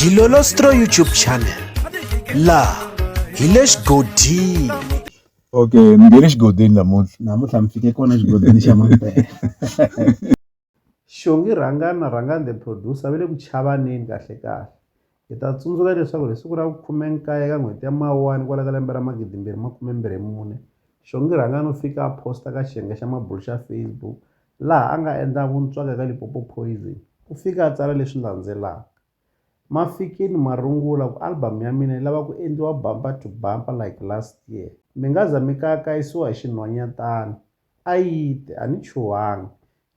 Dilolostro YouTube channel laha hi le xigodini okay mi nge le xigodini namuntlha namuntlha mi fike kona xigodini xa mampela xongi rhangani na rhangani the producer va le ku chavaneni kahle kahle hi ta tsundzuka leswaku hi siku ra vukhume nkaye ka n'hweti ya mawani kwala ka lembe ra magidimbirhi makume mbirhi mune xongi rhangani u fika a posta ka xiyenge xa mabulu xa facebook laha a nga endla vuntswaka eka Limpopo Poison, u fike a tsala leswi landzelaka, Ma fikile marungula ku album ya mina yi lava ku endliwa bumper to bumper like last year. Mi nga za mi kayakayisiwa hi xinhwanyatana. A yi te, A ni chuhangi.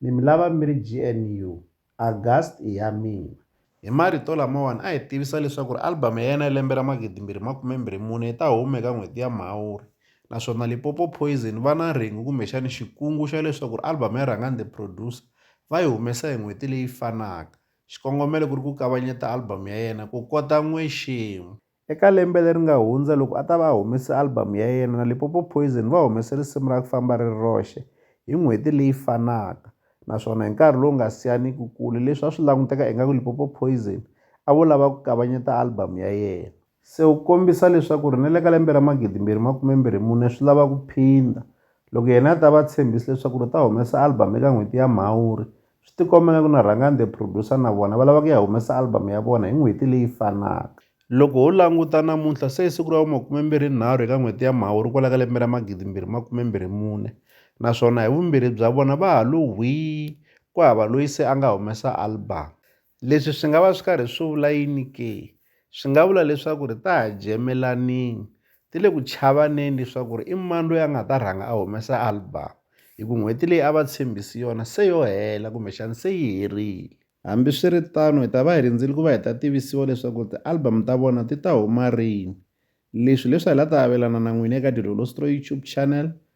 Ni mi lava mi ri GNU. August i ya mina. Hi marito lamawani a hi tivisa leswaku album ya yena ya lembe ra 2024 yi ta huma eka n'hweti ya Mhawuri naswona Limpopo Poison va na rhengu kumbexani xikungu xa leswaku album ya Rhangani The Producer va yi humesa hi n'hweti leyi fanaka. Xikongomelo ku ri ku kavanyeta album ya yena ku kota n'wexemu. Eka lembe leri nga hundza, loko a ta va a humese album ya yena na Limpopo Poison va humese risimu ra Ku Famba Ri Ri Roxe hi n'hweti leyi fanaka naswona hi nkarhi lowu nga siyaniki kule leswi a swi languteka ingaku Limpopo Poison a vo lava ku kavanyeta album ya yena. Se u kombisa leswaku ri na le ka lembe ra magidimbirhi makumembirhi mune swi lava ku phinda loko yena a ta va a tshembise leswaku ri u ta humesa album eka n'hweti ya Mhawuri Swi tikomba ngaku na Rhangani the Producer na vona va lava ku ya humesa album ya vona hi n'hweti leyi fanaka. Loko ho languta namuntlha se i siku ra vu makume-mbirhi-nharhu eka n'hweti ya Mhawuri kwala ka lembe ra magidi-mbirhi makume-mbirhi-mune naswona hi vumbirhi bya vona va ha lo hwii ku hava loyi se a nga humesa album. Leswi swi nga va swi karhi swi vula yini ke? Swi nga vula leswaku ri ta ha jemelanini ti le ku chavaneni leswaku ri i mani loyi a nga ta rhanga a humesa album hi ku n'hweti leyi a va tshembisi yona se yo hela kumbexani se yi herile hambiswiritano hi ta va hi rindzile ku va hi ta tivisiwa leswaku ti-album ta vona ti ta huma rini leswi leswi hi la ta avelana na n'wina eka Dilolo Stroy YouTube channel